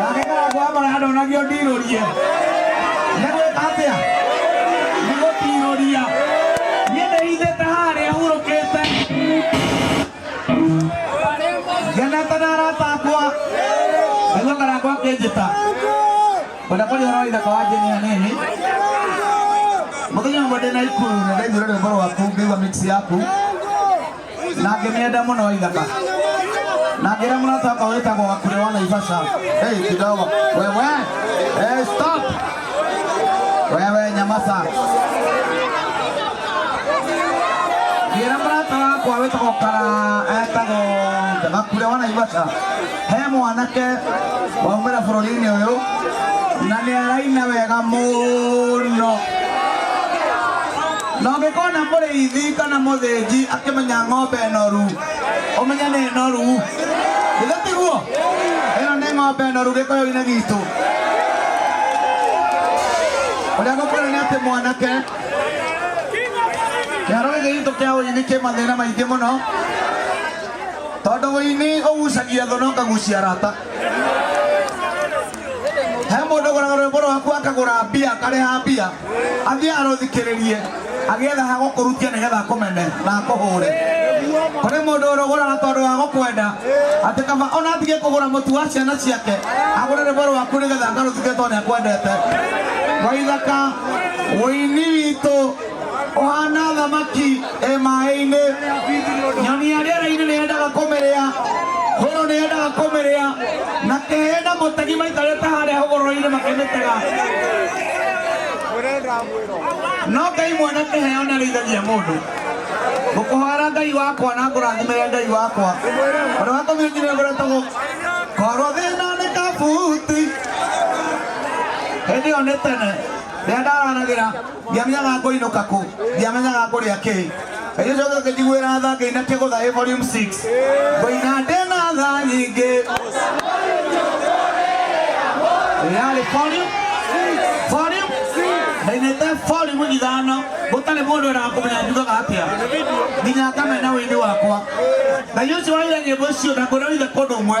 nake karangũ wa maraya ndonagio ndirũrie nĩ gwĩka atĩa nĩ gũtirũria niĩ nĩithĩte harĩa hurũkĩte ngenete na arata akwa nĩguo karangũ akĩnjĩta kwenda kũrĩa ũrori thaka wa njeni hanini mũthenya ũmwe ndĩ na ikuru nĩ ndaiguire rwĩmbo rwaku ngĩigua mix yaku na ngĩmĩenda mũno waithaka na ngĩra mũrata wakwa wĩtagwo wakure wa naivasha hey, kidogo wewe hey, stop wewe nyamasa ngĩra mũrata wakwa wĩtagwo kara etagwo wakure wa naivasha he mwanake waumĩra bũrũri-inĩ ũyũ na nĩ araina wega mũno na ũngĩkona mũrĩithi kana mũthĩnji akĩmenya ng'ombe noru ũmenye nĩ noru ithe tiguo ĩno nĩ ng'ombe noru gĩkoyo-inĩ gitũ ũrĩa gũkwĩra nĩ atĩ mwanake kĩharo gĩkĩ gitũ kĩa ũini kĩ mathĩna maingĩ mũno tondũ ũini ũgucagia thũ na ũkagucia rata he mũndũ ũgũraga rwĩmbo rwaku akagũra mbia akarĩha mbia athiĩ arũthikĩrĩrie agĩetha ha gũkũrutia nĩgetha akũmene na akũhũre kũrĩ mũndũ ũrũgũraga tondũ wa gũkwenda atĩ kaba ona atige kũgũra mũtu wa ciana ciake agũre rwĩmbo rwaku nĩgetha akarũthikĩrĩrie tondũ nĩakwendete waithaka ũini witũ ũhana thamaki ĩ maĩ-inĩ nyoni ya rĩera-inĩ nĩ yendaga kũmĩrĩa hũrũ nĩ yendaga kũmĩrĩa na kĩhĩ na mũtegi maikarĩte harĩa hũgũrũrũ-inĩ makĩmĩtega no ngai mwene kĩheo nĩ arĩithagia mũndũ ngũkũhoera ngai wakwa na ngũrathimĩre ngai wakwa ũrĩa watũmire nginya ngũretagwo korwo thĩna nĩ kabuti hĩndĩ ĩyo nĩ tene rĩrĩa ndaranagĩra ndiamenyaga ngũinũka kũ ndiamenyaga ngũrĩa kĩ ĩgĩcoka ngĩnjiguĩra tha ngĩina kĩgũtha ĩ volume 6 ngũina ndĩna tha nyingĩ yarĩ volume volume ndainĩte volume ithano gũtarĩ mũndũ ũrakũmenya njugaga atĩa nginya ngamena wĩini wakwa na icio waire nyĩmbo icio na ngũrĩa ithe kũndũ ũmwe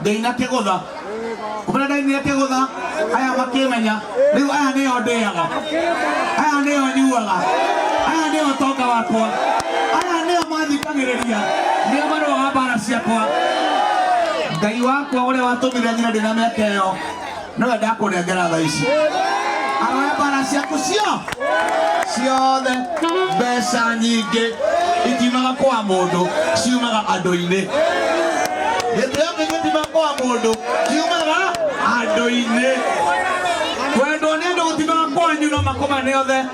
ndainategũtha ũmena ndainategũtha aya makĩmenya rĩu aya nĩo ndĩaga aya nĩo nyuaga aya nĩo ũtonga wakwa aya nĩo mathikagĩrĩria nĩo marũaga mbara ciakwa ngai wakwa ũrĩa watũmire nyina ndĩna mĩaka ĩyo nĩwe ndakũnengera tha ici aroe mbara ciaku cio ciothe mbeca nyingĩ itiumaga kwa mũndũ ciumaga andũ-inĩ gĩtĩo kĩngĩ itiumaga kwa mũndũ ciumaga andũ-inĩ kwendwo nĩ andũ gũtimaga kwanyu no makũmane othe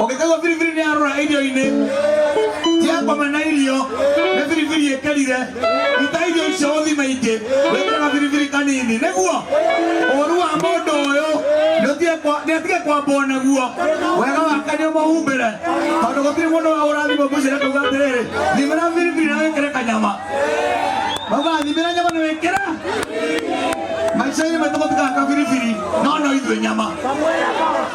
ũngĩkaigua biribiri nĩ yarũra irio-inĩ ciakome na irio nĩ biribiri ĩkerire ruta irio icio ũthime ingĩ wĩkĩraga biribiri kanini nĩguo ũru wa mũndũ ũyũ nĩatige kwambwo naguo wega wake nĩ ũmũhumbĩre tondũ gũtirĩ mũndũ wa ũrathimwo mũcere kauga atĩrĩrĩ thimĩra biribiri na wĩkĩre kanyama mauga thimĩra nyama na wĩkĩra maica-inĩ maitũ gũtikaka biribiri no no ithuĩ nyama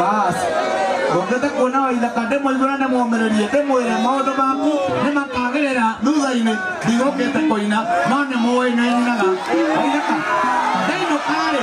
bas ngũkĩte kuona waithaka ndĩmũigũra ndĩmũmĩrĩrie ndĩmwĩre maũndũ maku nĩ makagĩrĩra thutha-inĩ ndigũkĩte kũina no nĩ mũĩ nĩ nyinaga waithaka ndainũkarĩ